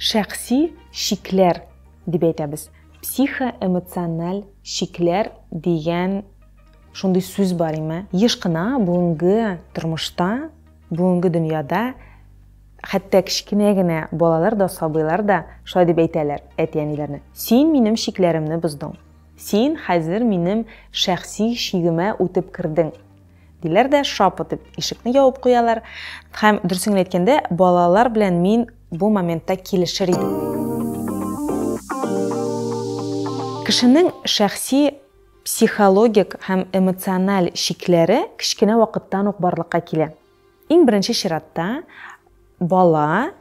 Шәхси чикләр дип әйтәбез. Психоэмоциональ чикләр дигән шундый сүз бар име? Еш кына бүгенге тормышта, бүгенге дөньяда хәтта кечкенә генә балалар да, сабыйлар да шулай дип әйтәләр әти-әниләренә. Син минем чикләремне боздың. Син хәзер минем шәхси чигемә үтеп кердең. Диләр дә шап итеп ишекне ябып куялар. Һәм дөресен әйткәндә, балалар белән мин бу моментта килешер идем. Кешенең шәхси психологик һәм эмоциональ чикләре кечкенә вакыттан ук барлыкка килә. Иң беренче чиратта бала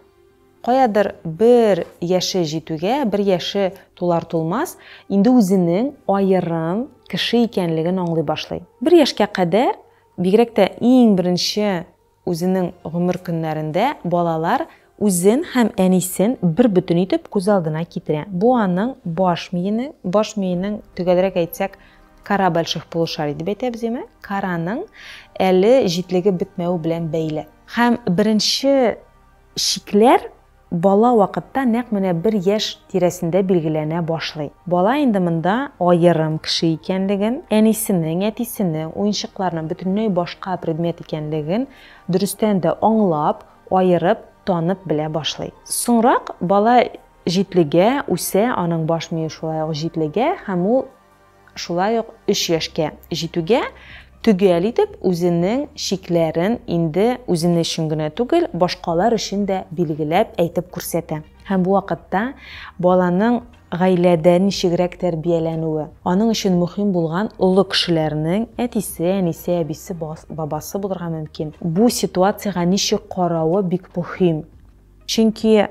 Каядыр бер яше җитүгә, бер яше тулар-тулмас, инде үзенең аерым кеше икәнлеген аңлый башлый. Бер яшькә кадәр, бигрәк тә иң беренче үзенең гомер көннәрендә, балалар үзен һәм әнисен бербөтен итеп күз алдына китерә. Бу аның баш миенең, баш миенең, төгәлрәк әйтсәк, кора больших полушарий дип әйтәбез, яме, кораның әле җитлегеп бетмәве белән бәйле. Һәм беренче. Чикләр бала вакытта нәкъ менә бер яшь тирәсендә билгеләнә башлый. Бала инде монда аерым кеше икәнлеген, әнисенең, әтисенең, уенчыкларның бөтенләй башка предмет икәнлеген дөрестән дә аңлап, аерып, танып белә башлый. Соңрак бала җитлегә, үсә, аның баш мие шулай ук җитлегә һәм ул. шулай ук өч яшькә җитүгә төгәл итеп үзенең чикләрен инде үзене өчен генә түгел, башкалар өчен дә билгеләп әйтеп күрсәтә. Һәм бу вакытта баланың гаиләдә ничегрәк тәрбияләнүе, аның өчен мөһим булган олы кешеләрнең, әтисе, әнисе, әбисе, бабасы булырга мөмкин, бу ситуациягә ничек каравы бик мөһим. Чөнки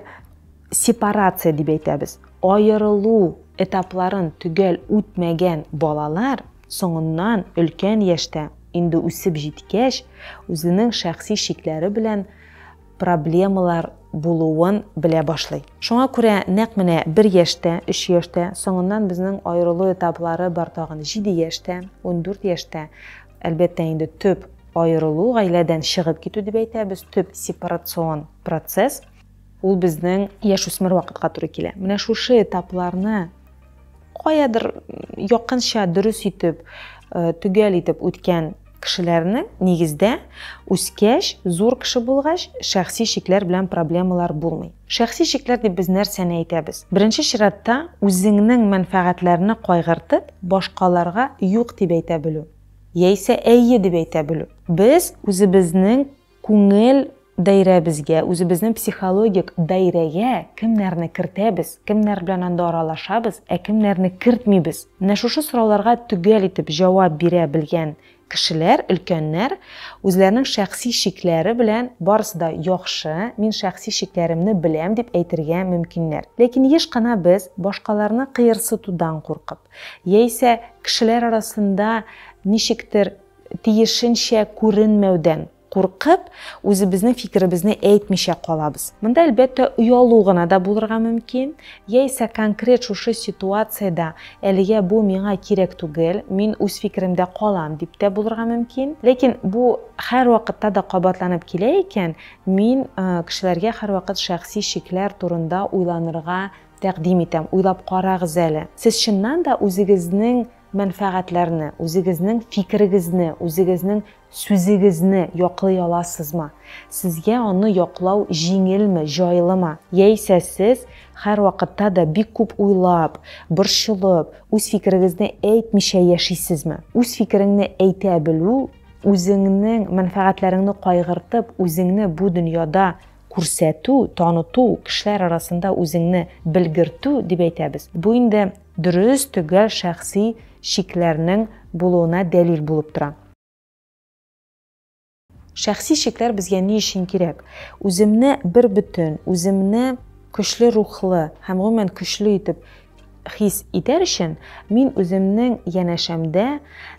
сепарация дип әйтәбез, аерылу этапларын төгәл үтмәгән балалар соңыннан өлкән яшьтә, инде үсеп җиткәч, үзенең шәхси чикләре белән проблемалар булуын белә башлый. Шуңа күрә нәкъ менә бер яшьтә, өч яшьтә, соңыннан безнең аерылу этаплары бар тагын җиде яшьтә, ундүрт яшьтә Әлбәттә инде төп аерылу, гаиләдән чыгып китү дип әйтәбез, төп сепарацион процесс. Ул безнең яшь үсмер вакытка туры килә. Менә шушы этапларны каядыр якынча дөрес итеп, э, төгәл итеп үткән кешеләрнең нигездә үскәч, зур кеше булгач, шәхси шикләр белән проблемалар булмый. Шәхси чикләр дип без нәрсәне әйтәбез? Беренче чиратта, үзеңнең мәнфәгатьләрне кайгыртып, башкаларга юк дип әйтә белү, яисә әйе дип әйтә белү. Без үзебезнең күңел даирәбезгә, үзебезнең психологик даирәгә кемнәрне кертәбез, кемнәр белән анда аралашабыз, ә кемнәрне кертмибез? Менә шушы сорауларга төгәл итеп җавап бирә белгән Кешеләр, өлкәннәр, үзләренең шәхси чикләре белән барысы да яхшы, мин шәхси чикләремне беләм дип әйтергә мөмкиннәр. Ләкин еш кына без, башкаларны кыерсытудан куркып, яисә кешеләр арасында ничектер тиешенчә күренмәүдән, Куркып, үзебезнең фикеребезне әйтмичә калабыз. Монда, әлбәттә, оялу гына да булырга мөмкин, яисә конкрет шушы ситуациядә әлегә бу миңа кирәк түгел, мин үз фикеремдә калам дип тә булырга мөмкин. Ләкин бу һәрвакытта да кабатланып килә икән, мин кешеләргә һәрвакыт шәхси шикләр турында уйланырга тәкъдим итәм, уйлап карагыз әле. Сез чыннан да үзегезнең мәнфәгатьләрне, үзегезнең фикерегезне, үзегезнең Сүзегезне яклый аласызмы? Сезгә аны яклау җиңелме, җайлымы? Яисә сез һәрвакытта да бик күп уйлап, борчылып, үз фикерегезне әйтмичә яшисезме? Үз фикереңне әйтә белү, үзеңнең мәнфәгатьләреңне кайгыртып, үзеңне бу дөньяда күрсәтү, таныту, кешеләр арасында үзеңне белгертү дип әйтәбез. Бу инде дөрес, төгәл шәхси чикләрнең булуына дәлил булып тора. Шәхси чикләр безгә ни өчен кирәк? Үземне бер бөтен, үземне көчле рухлы һәм гомумән көчле итеп хис итәр өчен мин үземнең янәшәмдә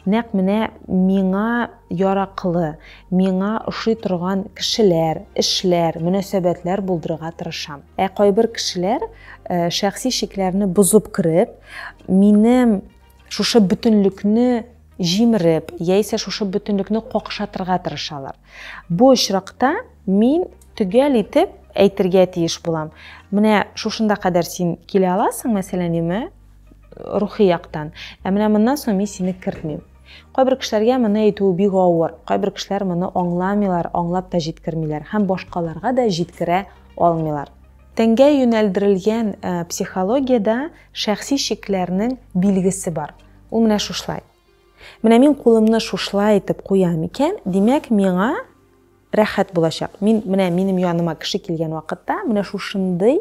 нәкъ менә миңа яраклы, миңа ошый торган кешеләр, эшләр, мөнәсәбәтләр булдырырга тырышам. Ә кайбер кешеләр э, шәхси чикләрне бозып кереп, минем шушы бөтенлекне җимереп, яисә шушы бөтенлекне какшатырга тырышалар. Бу очракта мин төгәл итеп әйтергә тиеш булам. Менә шушында кадәр син килә аласың, мәсәлән, юме, рухи яктан. Ә менә моннан соң мин сине кертмим. Кайбер кешеләргә моны әйтү бик авыр. Кайбер кешеләр моны аңламыйлар, аңлап та җиткермиләр һәм башкаларга да җиткерә алмыйлар. Тәнгә юнәлдерелгән психологиядә шәхси чикләрнең билгесе бар. Ул менә шушлай. Менә мин кулымны шушлай итеп куям икән, димәк, миңа рәхәт булачак. Мин менә минем яныма кеше килгән вакытта менә шушындый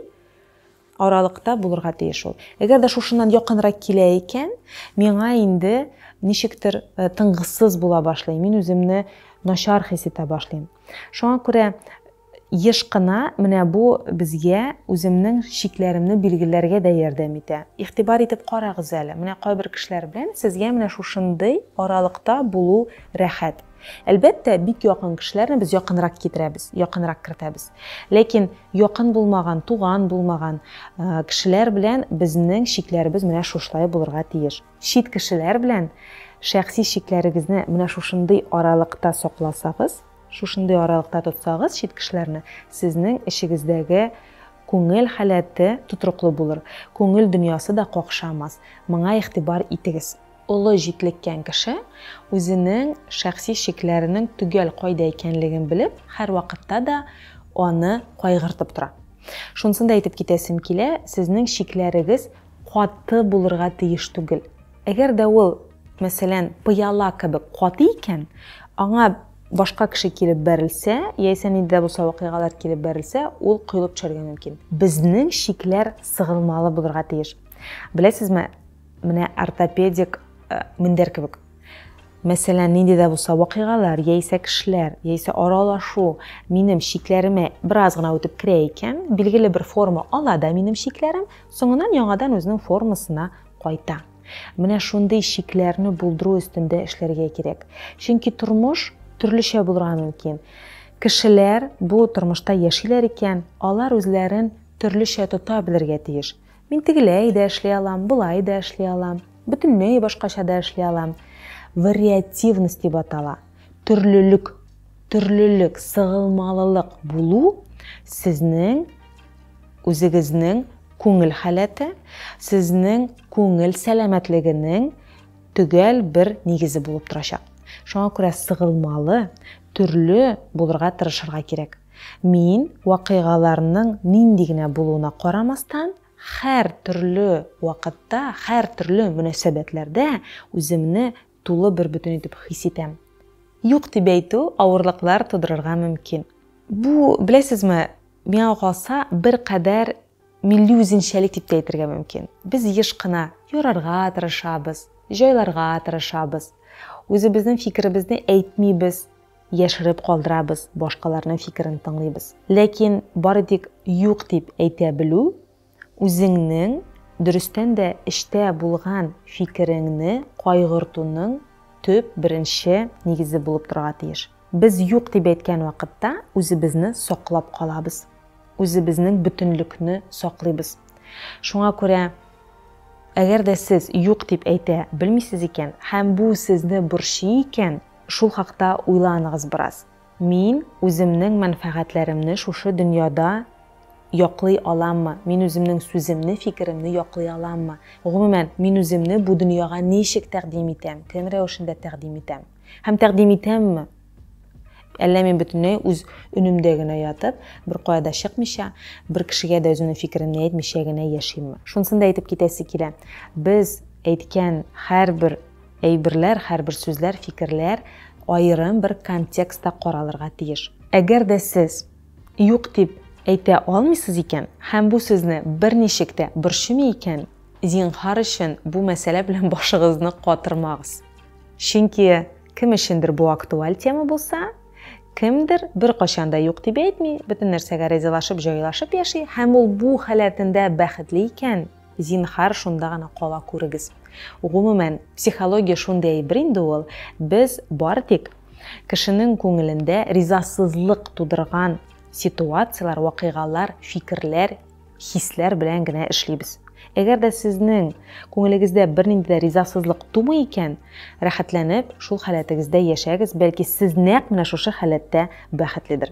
аралыкта булырга тиеш ул. Әгәр дә шушыннан якынрак килә икән, миңа инде ничектер э, тынгысыз була башлый. Мин үземне начар хис итә башлыйм. Шуңа күрә Еш кына менә бу безгә үземнең чикләремне билгеләргә дә ярдәм итә. Игътибар итеп карагыз әле, менә кайбер кешеләр белән сезгә менә шушындый аралыкта булу рәхәт. Әлбәттә, бик якын кешеләрне без якынрак китерәбез, якынрак кертәбез. Ләкин якын булмаган, туган булмаган кешеләр белән безнең чикләребез менә шушылай булырга тиеш. Чит кешеләр белән шәхси чикләрегезне менә шушындый аралыкта сакласагыз, Шушындый аралыкта тотсагыз чит кешеләрне, сезнең эчегездәге күңел халәте тотрыклы булыр, күңел дөньясы да какшамас. Моңа игътибар итегез. Олы җитлеккән кеше, үзенең шәхси чикләренең төгәл кайда икәнлеген белеп, һәрвакытта да аны кайгыртып тора. Шунысын да әйтеп китәсем килә, сезнең чикләрегез каты булырга тиеш түгел. Әгәр дә ул мәсәлән, пыяла кебек каты икән, аңа башка кеше килеп бәрелсә, яисә нинди дә булса вакыйгалар килеп бәрелсә, ул коелып төшәргә мөмкин. Безнең чикләр сыгылмалы булырга тиеш. Беләсезме, менә ортопедик э, мендәр кебек. Мәсәлән, нинди дә булса вакыйгалар, яисә кешеләр, яисә аралашу минем чикләремә бераз гына үтеп керә икән, билгеле бер форма ала да минем чикләрем, соңыннан яңадан үзенең формасына кайта. Менә шундый чикләрне булдыру өстендә эшләргә кирәк. Чөнки тормыш төрлечә булырга мөмкин. Кешеләр бу тормышта яшиләр икән, алар үзләрен төрлечә тота белергә тиеш. Мин тегеләй дә эшли алам, болай да эшли алам, бөтенләй башкача да эшли алам. Вариативность дип атала. Төрлелек, төрлелек, сыгылмалылык булу сезнең үзегезнең Күңел халәте, сезнең күңел сәламәтлегенең төгәл бер нигезе булып торачак. Шуңа күрә сыгылмалы, төрле булырга тырышырга кирәк. Мин, вакыйгаларның нинди генә булуына карамастан, хәр төрле вакытта, хәр төрле мөнәсәбәтләрдә үземне тулы бербөтен итеп хис итәм. Юк дип әйтү авырлыклар тудырырга мөмкин. Бу, беләсезме, миңа калса, беркадәр милли үзенчәлек дип тә әйтергә мөмкин. Без еш кына ярарга тырышабыз, җайларга тырышабыз. Үзебезнең фикеребезне әйтмибез, яшереп калдырабыз, башкаларның фикерен тыңлыйбыз. Ләкин бары тик юк дип әйтә белү үзеңнең, дөрестән дә, эчтә булган фикереңне кайгыртуның төп, беренче нигезе булып торырга тиеш. Без юк дип әйткән вакытта үзебезне саклап калабыз, үзебезнең бөтенлекне саклыйбыз. Шуңа күрә, әгәр дә сез юк дип әйтә белмисез икән һәм бу сезне борчый икән, шул хакта уйланыгыз бераз. Мин үземнең мәнфәгатьләремне шушы дөньяда яклый аламмы? Мин үземнең сүземне, фикеремне яклый аламмы? Гомумән, мин үземне бу дөньяга ничек тәкъдим итәм, кем рәвешендә тәкъдим итәм? Һәм тәкъдим итәмме? Әллә мин бөтенләй үз өнемдә генә ятып, беркая да чыкмыйча, бер кешегә дә үземнең фикеремне әйтмичә генә яшимме? Шунысын да әйтеп китәсе килә, без әйткән һәрбер Әйберләр, һәрбер сүзләр, фикерләр аерым бер контекстта каралырга тиеш. Әгәр дә сез юк дип әйтә алмыйсыз икән һәм бу сезне берничек тә борчымый икән, зинһар өчен бу мәсьәлә белән башыгызны катырмагыз. Чөнки кем өчендер бу актуаль тема булса, кемдер беркайчан да юк дип әйтми, бөтен нәрсәгә ризалашып, җайлашып яши һәм ул бу халәтендә бәхетле икән, Зинһар, шунда гына кала күрегез. Гомумән, психология шундый әйбер инде ул, без бары тик кешенең күңелендә ризасызлык тудырган ситуацияләр, вакыйгалар, фикерләр, хисләр белән генә эшлибез. Әгәр дә сезнең күңелегездә бернинди дә ризасызлык тумый икән, рәхәтләнеп шул халәтегездә яшәгез, бәлки сез нәкъ менә шушы халәттә бәхетледер.